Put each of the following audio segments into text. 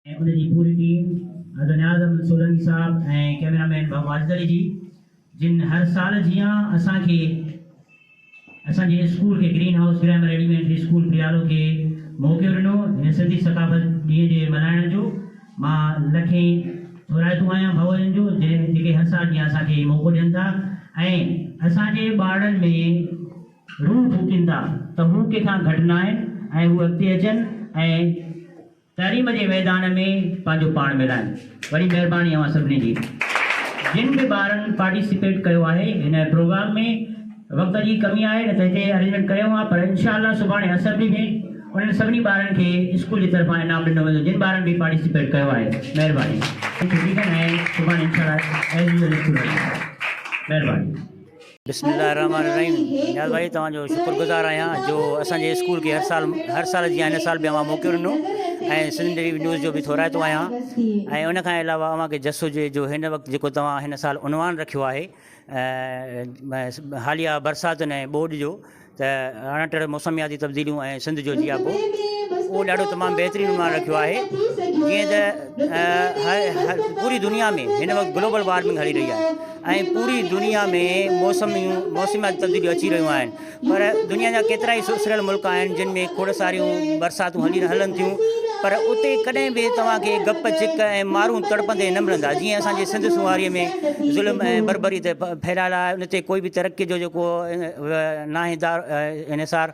۽ ان جي پوري ٽيم حضرت نياز احمد سولنگي صاحب ۽ ڪيميرا مين بابو واجد علي جي جن هر سال جيان اسان کي اسان جي اسڪول کي green house grammar elementary school پريالو کي موقعو ڏنو هن سنڌي ثقافت ڏينهن جي ملهائڻ جو مان لکين ٿورائتو آهيان ڀائوارين جو جنهن جيڪي هر سال جيان اسان کي هي موقعو ڏين ٿا ۽ اسان جي ٻارڙن ۾ روح ڦوڪين ٿا ته هو ڪنهن کان گهٽ ناهن ۽ هو اڳتي اچن ۽ تعليم جي ميدان ۾ پنهنجو پاڻ ملائين. وڏي مهرباني اوهان سڀني جي جن به ٻارن پارٽيسپيٽ ڪيو آهي هن پروگرام ۾ وقت جي ڪمي آهي نه ته هتي ارينجمينٽ ڪري هئان پر انشاء الله سڀاڻي اسيمبلي ۾ انهن سڀني ٻارن کي اسڪول جي طرفان انعام ڏنو ويندو جن ٻارن به پارٽيسپيٽ ڪيو آهي مهرباني ڇٽي ڪن ۽ سڀاڻي انشاء الله ايز يوزل اسڪول هلندو مهرباني. بسم الله الرحمٰن الرحيم نياز ڀائي توهان جو شڪر گذار آهيان جو اسان جي اسڪول کي هر سال هر سال جيان هن سال به اوهان موقعو ڏنو ۽ سنڌ ڊيري نيوز جو به ٿورائتو آهيان ۽ ان کان علاوه اوهان کي جس هجي جو هن وقت جيڪو توهان هن سال عنوان رکيو آهي حاليه برساتن ۽ ٻوڏ جو ته اڻٽڙ موسمياتي تبديليون ۽ سنڌ جو جياپو اهو ڏاڍو تمام بهترين عنوان رکيو آهي جيئن ته هر پوري دنيا ۾ هن وقت گلوبل وارمنگ هلي رهي آهي ۽ پوري دنيا ۾ موسميون موسمياتي تبديليون اچي رهيون آهن پر دنيا جا ڪيترا ئي سسريل ملڪ آهن جن ۾ کوڙ ساريون برساتون هلي هلن ٿيون پر اتي ڪڏهن به توهان کي گپ چڪ ۽ مارون تڙپندي نه ملندا جيئن اسان جي سنڌ سونهاري ۾ ظلم ۽ بربري تي ڦيلال آهي ان تي ڪوئي به ترقي جو جيڪو ناهي دار انحصار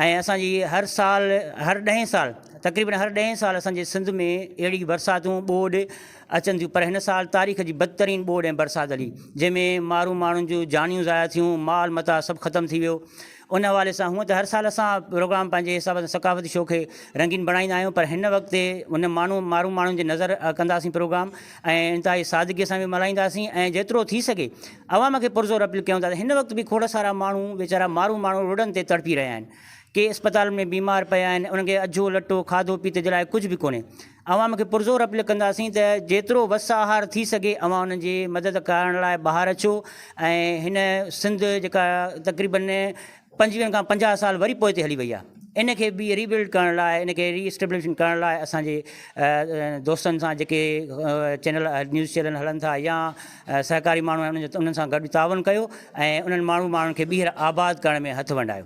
۽ اسان جي هر سال هر ڏهين سال تقريبن هر ڏهين سال اسان جي سنڌ ۾ اهڙي برساتون ٻوڏ اچن ٿيون پر هن سال تاريخ جي بدترين ٻوڏ ۽ برسات هلي جنهن ۾ مارو ماڻهن جون جانيون ضايع ٿيون مال متاع سڀ ختم ٿي ويو ان حوالي سان هونء ته هر سال اسان پروگرام پنهنجي حساب سان ثقافتي شو کي رنگين بڻائيندا آهيون پر هن وقت تي ان ماڻهو مارو ماڻهن جي نظر ڪنداسين پروگرام ۽ انتهائي سادگي سان به ملهائينداسين ۽ جيترو ٿي سگهي عوام کي پرزور اپيل ڪيون ٿا ته هن وقت به کوڙ سارا ماڻهو ويچارا مارو ماڻهو روڊن تي تڙپي رهيا آهن. ڪي اسپتالن ۾ بيمار پيا آهن انهن کي اجهو لٽو، کاڌو پيت جي لاء ڪجهه به ڪونهي. عوام کي پرزور اپيل ڪنداسين ته جيترو وس آهر ٿي سگهي اوهان انهن جي مدد ڪرڻ لاء ٻاهر اچو ۽ هن سنڌ جيڪا تقريبن پنجويهن کان پنجاهه سال وري پوئتي هلي وئي آهي ان کي به ري بلڊ ڪرڻ لاء ان کي ري اسٽيبلشمينٽ ڪرڻ لاء اسان جي دوستن سان جيڪي چينل نيوز چينل هلن ٿا يا سهڪاري ماڻهو آهن انهن سان گڏ تعاون ڪيو ۽ انهن ماڻهو ماڻهن کي ٻيهر آباد ڪرڻ ۾ هٿ ونڊايو